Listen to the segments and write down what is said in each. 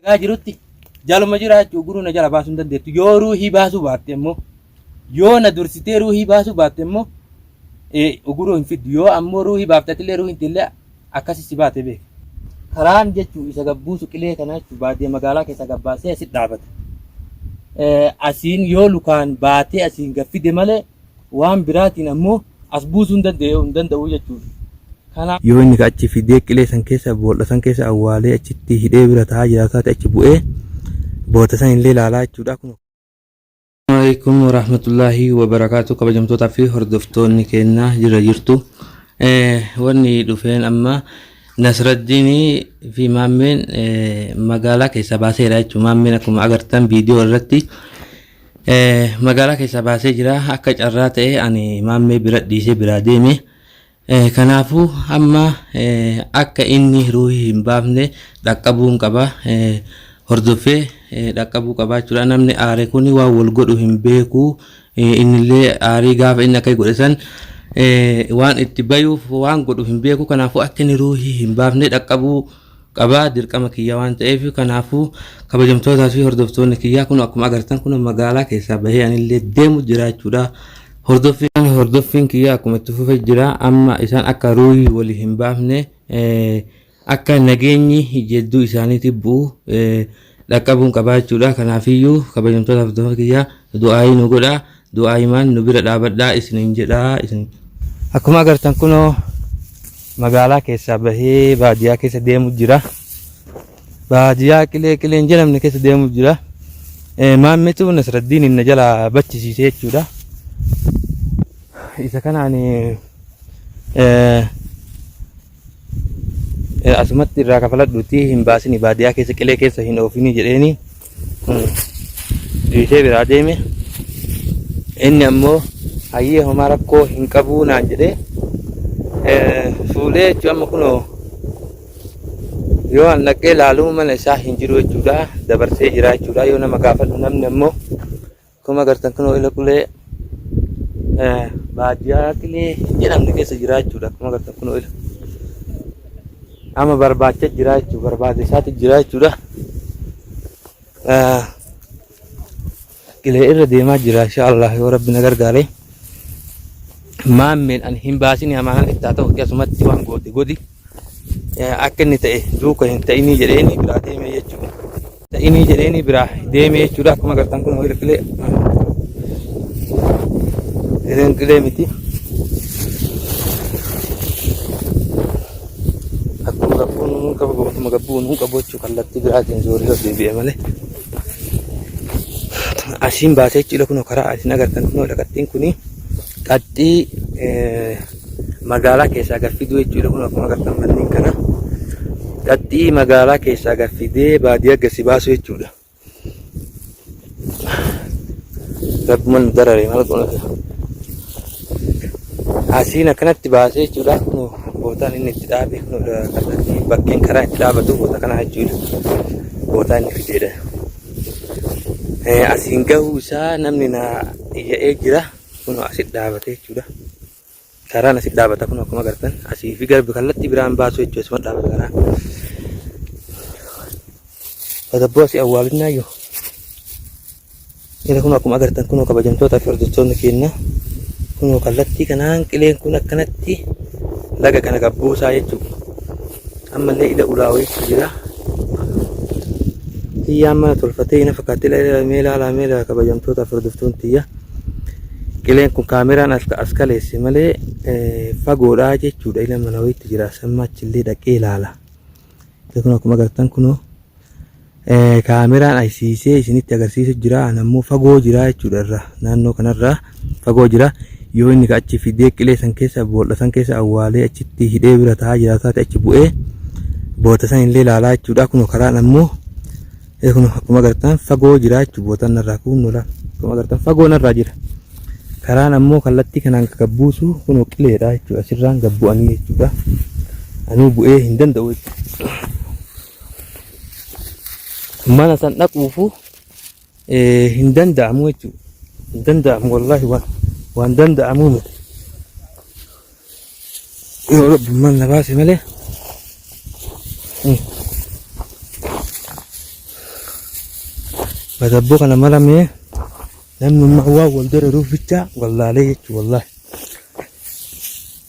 Gaa jirutti jaluma jiraachuu guruu na jala baasuu hin dandeettu. Yoo ruuhii baasuu baatte immoo yoo na dursitee ruuhii baasuu baatte immoo eh, guruu hin fiddu. Yoo ammoo ruuhii baaftatillee ruuhiin tillee akkasi si baate beeka. Karaan jechuun isa gabbuusu qilee kana jechuun baadiyyaa magaalaa keessaa gabbaasee asi dhaabata. Eh, Asiin yoo lukaan baatee asiin gaffide malee waan biraatiin ammoo as buusuu hin danda'u jechuudha. Kanaaf. yoo inni ka achi fidee qilee san keessa bool'a san keessa awwaalee achitti hidhee bira taa'aa jiraatu taate achi bu'ee boota san illee laalaa jechuudha. Kun Assalamualaikum warahmatullahi wabarakatuh kabajamtootaa fi hordoftoonni keenya jira jirtu wanni dhufeen amma Nasraddiinii fi Maammeen magaalaa keessaa baaseera jechuudha. Maammeen akkuma agartan viidiyoo irratti Magaalaa keessaa baasee jira. Akka carraa ta'ee ani maammee bira dhiisee biraa deeme. Kanaafuu amma akka inni ruuhii hin baafne dhaqqabuun qaba. Hordoffee dhaqqabuu qabaa jechuudha. Namni aare kun waan wal godhu hin beeku. Innillee aarii gaafa inni akka godhe san waan itti bayuuf waan godhu hin beeku. Kanaafuu akka inni ruuhii hin baafne dhaqqabuu qaba. qaba dirqama kiyya waan ta'eef kanaafuu kabajamtootaa fi hordoftoonni kiyyaa kun akkuma agartan kun magaalaa keessaa bahee anillee deemu jiraachuudha hordoffiin hordoffiin kiyya akkuma itti fufe jira amma isaan akka ruuyi wali hin baafne akka nageenyi jedduu isaaniitti bu'u dhaqqabuun qabaa jechuudha kanaafiyyuu kabajamtoota hordoftoota kiyya du'aayii nu godha du'aayimaan nu bira dhaabadhaa isiniin jedha isin akkuma agartan kunoo magaalaa keessaa bahee baadiyyaa keessa deemu jira baadiyyaa qilee qileen jedhamne keessa deemu jira Eh, maammitu nasraddiin inni jala bachisiise jechuudha isa kanaan eh, Asumatti irraa kafaladhuutii hin baasini baadiyaa keessa qilee keessa hin oofini jedheeni dhiisee biraa deeme. Inni ammoo hayyee homaa rakkoo hin qabuu naan jedhee fuudhee jechuun amma kunoo yoo an dhaqee laaluu mana isaa hin jiru jechuudha dabarsee jira jechuudha yoo nama gaafadhu namni ammoo Akkuma agartan kunoo ila qulee eh, baadiyyaa qilee hin jedhamne keessa jira jechuudha. Akkuma agartan kunoo ila. Amma barbaacha jira jechuudha. Barbaade isaati jira jechuudha. Eh, Qilee irra deemaa jira insha Allah yoo rabbi na gargaare. Maammeen ani hin baasini hamaa kan itti haa ta'u akkasumatti waan goote godhi. Eh, Akka inni ta'e duuka hin ta'inii jedheeni biraa deemee jechuudha. Ta'inii jedheeni biraa deemee jechuudha. Akkuma agartan kun hiriir qilee. Hiriir qilee miti. Akkuma gabbuun nuun qabu akkuma gabbuun nuun qabu jechuu kallattii biraatiin zooree yoo deebi'e malee. Asiin baatee jechuudha kunoo karaa asiin agartan kunoo dhaqattiin kuni qaxxii magaalaa keessaa gad fiduu jechuudha. Kun akkuma agartan manneen kana dhaxxii magaalaa keessaa gad fidee baadiyyaa gasi baasuu jechuudha. Rabbuman nu darare maal goona gaa. Asiin akkanatti baasee jechuudha. Kun Bootaan inni itti dhaabe kun kallattii bakkeen karaa itti dhaabatu boota kana jechuudha. Bootaa inni fideedha. Eh, Asiin gahuu isaa namni na iyya'ee jira. Kuno asit dhaabate jechuudha. Karaan asit dhaabata kuno akkuma agartan asii fi garbi kallattii biraan baasu jechuudha asuma dhaabata kanaa. Tasgabboo asii awwaalinnaa iyyuu. Inni kun akkuma agartan kuno kabajamtootaa fi hordoftoonni keenya kuno kallattii kanaan qileen kun akkanatti laga kana gabbuusaa jechuudha. Ammallee ila ulaa wayiitu jira. Tiyyaan mana tolfatee ina fakkaatti ila ila mee ilaalaa mee ilaalaa kabajamtoota furduftuun tiyya. Qileen kun kaameraan as as kaleesse malee eh, fagoodhaa jechuudha ila mana wayiitti jira. Samma achillee dhaqee ilaala. Kun akkuma agartan kunoo. Eh, kaameraan aysiisee isinitti agarsiisu jira an ammoo fagoo jira jechuudha irra naannoo kanarraa fagoo jira yoo inni ka achi fidee qilee san keessa bool'a san keessa awwaalee achitti hidhee bira taa'aa jira taate achi bu'ee boota san illee ilaalaa jechuudha kunoo karaan ammoo eh, kunoo akkuma agartan fagoo jira jechuudha bootaan narraa kunoo laal akkuma agartan fagoo narraa jira karaan ammoo kallattii kanaan gabbuusu kunoo qileedha jechuudha asirraan gabbu'anii jechuudha anuu bu'ee hin danda'u jechuudha. mana san dhaquufu eh, hin danda'amu jechuudha. Hin danda'amu wallaahi waan waan danda'amu miti. Yoo rabbummaan na baase malee. Badabboo kana maramee namni waan wal diriiruuf bicha wallaalee jechuudha wallaahi.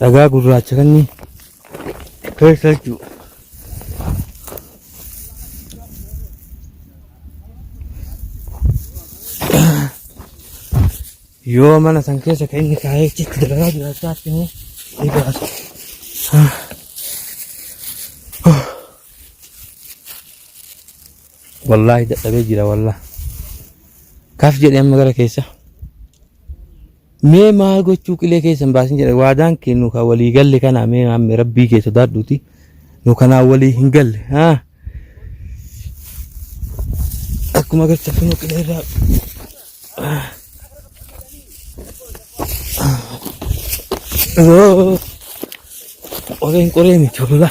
Dhagaa gurraacha kanni keessa jechuudha. Yoo mana san keessa kan inni kaa'ee achitti dalagaa jiraachaa akkanii ni baasa. Wallaahi dadhabee jira wallaahi. Kaaf jedhee amma gara keessa. Mee maal gochuu qilee keessa hin baasin jedhe waadaan kee nu ka walii galle kanaa mee maamme rabbii kee sodaadhuuti nu kanaa walii hin galle haa akkuma agartan kunoo qilee irraa Yoo, qoreen qoree miti walaa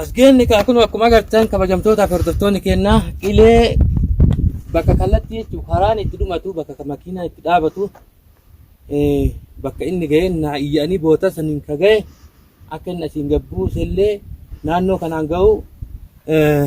As geenne kaa kunoo akkuma agartan kabajamtootaa fi hordoftoonni keenyaa qilee bakka kallattii jechuun karaan itti dhumatu bakka ka- makiinaa itti dhaabatu eh, bakka inni ga'een naa iyya'anii booda saniin ka ga'e akka inni asiin gabbuusellee naannoo kanaan ga'u eh,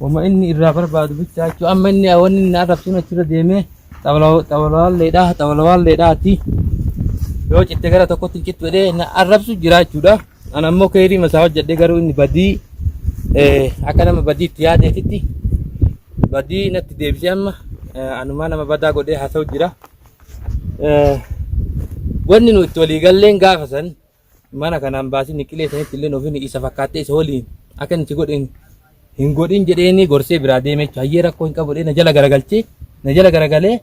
Wama inni irraa barbaadu bichaa jechuun amma inni wanni inni arrabsuun achirra deemee xawalawaalleedhaa xawalawaalleedhaati yoo citte gara tokkotti hin cittu jedhee na arrabsu jira jechuudha. An ammoo keerii masaa hojjedhee garuu inni badii eh, akka nama badii itti yaadeetitti badii natti deebisee amma eh, anumaa nama badaa godhee haasa'u jira. Eh, Wanni nu itti walii galleen gaafa san mana kanaan baasii niqilee sanitti illee ofin isa fakkaattee isa waliin akka inni si godhe hin- hin godhin jedheeni gorsee biraa deemee jechuudha. Hayyee rakkoo hin qabu jedhee na jala garagalchee na jala garagalee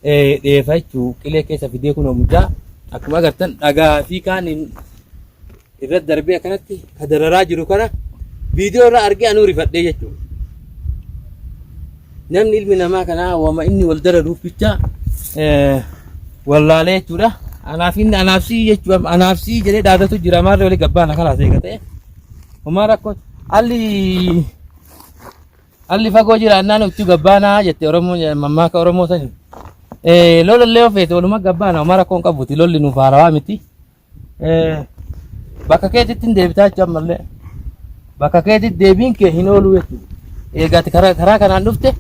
eh, dheefa jechuu qilee keessa fidee kun mucaa akkuma agartan dhagaa fi kaan hin- irra darbee akkanatti ka dararaa jiru kana viidiyoo irra argee anuu rifadhee jechuudha. Namni ilmi namaa kanaa wama inni wal dararuuf bicha wallaalee jechuudha. Anaaf inni anaaf sii jechuudha. Anaaf sii jedhee dhaadatu jira. Maarree walii gabbaana kalaas eegatee. Homaa rakkoo alli alli fagoo jira annaan utuu gabbaanaa jette Oromoon mammaaka Oromoo sani. Lola illee ofeete waluma gabbaana homaa rakkoon qabuti lolli nuuf haarawaa miti. bakka keetitti hin deebitaa jechuudha ammallee bakka keetitti deebiin kee hin oolu jechuudha. Eegaati karaa karaa kanaan dhufte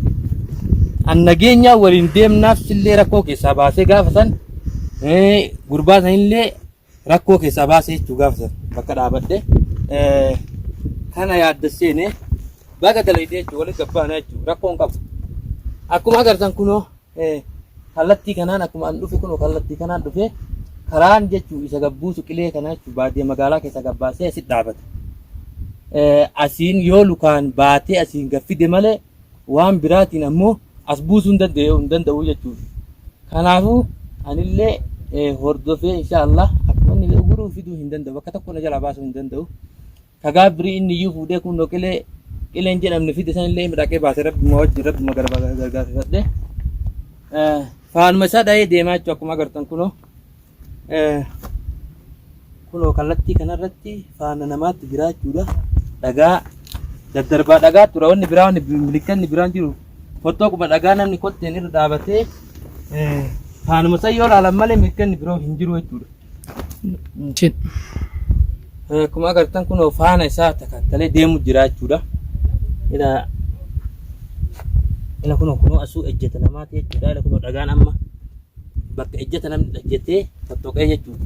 an nageenyaa waliin deemnaaf sillee rakkoo keessaa baasee gaafa san eh, gurbaa sanillee rakkoo keessaa baasee jechuu gaafa san bakka dhaabadhe eh, kana yaadda seene baga dalaydee jechuu walitti gabbaana jechuu rakkoon qabu akkuma agartan kunoo kallattii kanaan akkuma an dhufe kun kallattii kanaan dhufe karaan jechuu isa gabbuusu qilee kana jechuu baadiyyaa magaalaa keessa gabbaasee asit dhaabata. Asiin yoo lukaan baatee asiin gaffide malee waan biraatiin ammoo as buusuu hin danda'u hin danda'u jechuudha. Kanaafuu anillee hordofee inshaallah akkuma inni guruu fiduu hin danda'u bakka tokko na jalaa baasuu hin danda'u. Ka gaaf birii inni iyyuu fuudhee kuunnoo qilee qileen jedhamne fide san illee midhaqee baase rabbuma wajjin rabbuma garba- gargaarfifadhe. Eh, Faanuma isaa dhahee deemaa jechuudha akkuma agartan kunoo. Eh, kunoo kallattii kanarratti faana namaatti jiraa jechuudha. Dhagaa daddarbaa dhagaa tura wanni biraa wanni milikkanni biraan jiru fottoo quba dhagaa namni kotteen irra dhaabatee eh, faanuma isaa yoo ilaalan malee milikkanni biroo hin jiru jechuudha. Cin. Akkuma agartan kun faana isaa takakkalee deemu jira jechuudha. Ila ila kun kun asuu ejjeta namaati jechuudha. Ila kun dhagaan amma bakka ejjeta namni dhajjetee fottoqee jechuudha.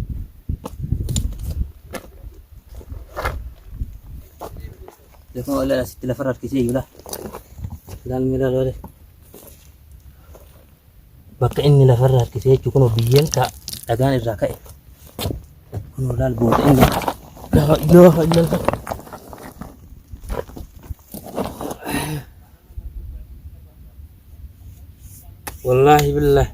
Ila kun ila asitti lafarra harkisee jira. Ilaalmi ilaaloo. bakka inni lafarra harkisee jechuun kunoo biyyeen kaa dhagaan irraa ka'e kunoo laal booda inni laa ilaaha illallah wallaahi billaahi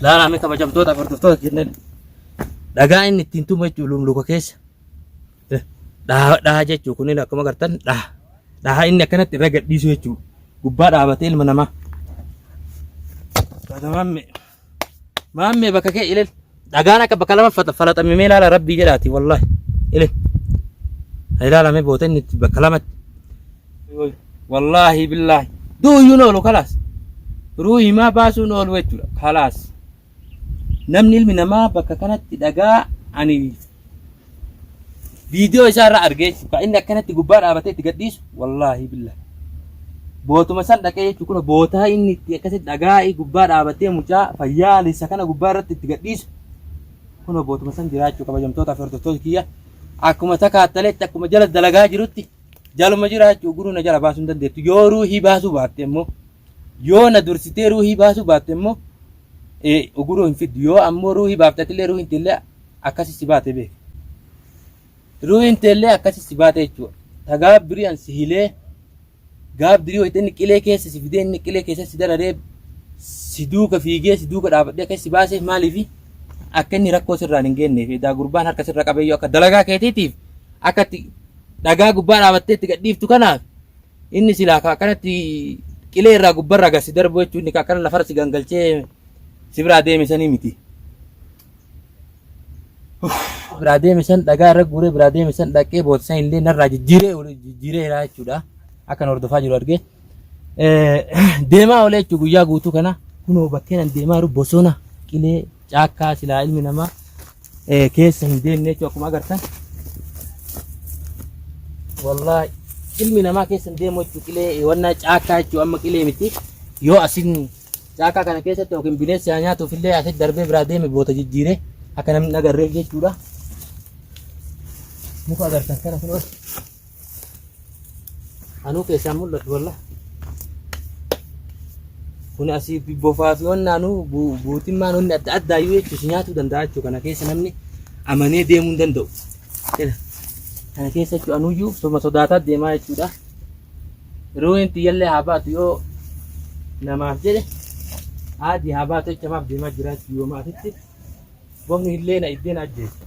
Laalaa mee kabajamtoota hordoftoota kenneen dhagaa inni ittiin tumu jechuun lumluka keessa dhaha dhaha jechuun kunneen akkuma agartan dhaha dhaha inni akkanatti irra gadhiisu jechuun gubbaa dhaabatee ilma namaa. Batamaan mee. Maammee bakka kee ilil. Dhagaan akka bakka lama fata- falaxame mee ilaala rabbii jedhaati wallaahi. Ilil. Ha ilaala mee boota inni itti bakka lamatti. Woy, Wallaahi billaahi. Du'uyyuun oolu kalaas. Ruuhi maa baasuun oolu jechuudha kalaas. Namni ilmi namaa bakka kanatti dhagaa ani viidiyoo isaa irraa argee jechuudha. Kan inni akkanatti gubbaa dhaabatee itti gadhiisu wallaahi billa. Bootuma san dhaqee jechuudha kun bootaa inni itti akkasitti dhagaa gubbaa dhaabatee mucaa fayyaa lissa kana gubbaa irratti itti gadhiisu kun bootuma san jiraachuu kabajamtootaaf hordoftoota kiyya akkuma takaattaletti akkuma jala dalagaa jirutti jaluma jiraachuu guruu na jala baasuu hin dandeettu yoo ruuhii baasuu baatte immoo Yoo na dursitee ruuhii baasuu baatte immoo uguruu hin fiddu. Yoo ammoo ruuhii baafte atillee ruuhiin teellee akkasi si baate beeki. Ruuhiin teellee akkasi si baate jechuudha. Ta gaabbirii an si hilee gaabbirii wayita inni qilee keessa si fidee inni qilee keessa si dararee si duuka fiigee si duuka dhaabadhee akka si baaseef maaliifi akka inni rakkoo sirraan hin geenneef edaa gurbaan harka sirra qabeeyyuu akka dalagaa keetiitiif akka itti dhagaa gubbaa dhaabattee itti gadhiiftu kanaaf Inni silaa ka akkanatti qilee irraa gubbarraa gad si darbu jechuun inni ka akkana lafarra si gangalchee si biraa deeme sanii miti. biraa deeme san dhagaa irra guuree biraa deeme san dhaqee boota san illee narraa jijjiiree ol- jijjiiree jira jechuudha. Akkan hordofaa jiru argee. Eh, Deemaa olee jechuun guyyaa guutuu kana kunoo bakkeen an deemaa jiru bosona qilee Caakkaa silaa ilmi namaa eh, keessa hin deemne jechuudha akkuma agartan. Wallaahi ilmi namaa keessa hin deemu jechuudha qilee eh, wannaa caakkaa jechuudha amma qilee miti. Yoo asin caakkaa kana keessatti yookiin bineensi haa nyaatuuf illee asitti darbee biraa deeme boota jijjiiree akka namni hin agarreef jechuudha. Muka agartan kana kun Anuu keessaan mul'atu walla. Kun asii bofaa fi wanna anuu guutummaan wanni adda addaa yoo jechuus nyaatuu danda'a jechuudha. Kana keessa namni amanee deemuu hin danda'u. Kana keessa jechuudha anuyyuu soma sodaataa deemaa jechuudha. Yeroo inni xiyyallee haa baatu yoo namaaf jedhe haadhi haa baatu jecha maaf deemaa jiraachuu yoo maatitti. Gomni illee na iddeen ajjeese.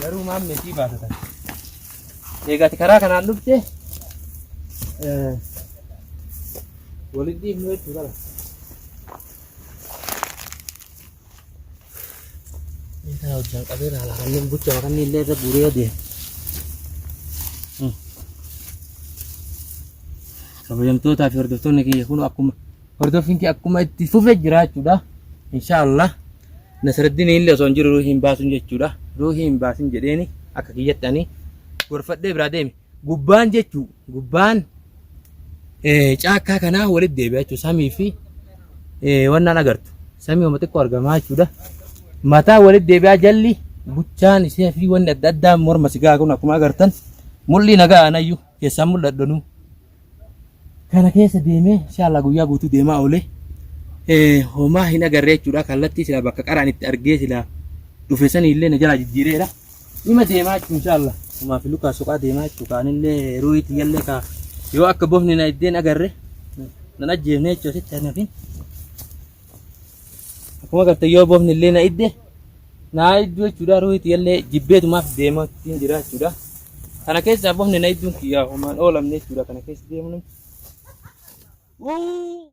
Garuu maam meetii baatatan. Eegaati karaa kanaan dhufte walitti dhiibnu jechuu qaba. Eegaa hojjaan qabee laala kanneen bucha kanneen illee irra guuree adeema. Kabajamtootaa fi hordoftoonni kiyya kun akkuma Hordoffiin kee akkuma itti fufe jira jechuudha. Inshaallah Nasraddiin illee osoo hin jiru ruuhii hin baasin jechuudha. Ruuhii hin baasin jedheeni akka kiyyatti ani gorfadhee biraa deeme. Gubbaan jechuu gubbaan eh, caakkaa kanaa walitti deebi'a jechuudha. Samii fi eh, wannaan agartu. Samii homa xiqqoo argamaa jechuudha. Mataa walitti deebi'aa jalli buchaan ishee fi wanni adda addaa morma sigaa kun akkuma agartan mul'ii nagaa anayyu keessaan mul'adhanu. kana keessa deemee inshaallaa guyyaa guutuu deemaa oolee homaa hin agarree jechuudha kallattii silaa bakka qaraan itti argee silaa dhufe sanii illee na jalaa jijjiireedha ima deemaa jechuun inshaallaa homaa fi lukaa soqaa deemaa jechuu kaanillee ruuhii tiyyallee kaa yoo akka bofni na iddeen agarre nan ajjeefne jechuu asitti hanafin Akkuma garte yoo boofni illee na idde naa idduu jechuudha ruuhiti illee jibbeetumaaf deemaa ittiin jira jechuudha. Kana keessaa boofni na idduun kiyyaa homaan oolamne jechuudha kana keessa deemuun. Wuu!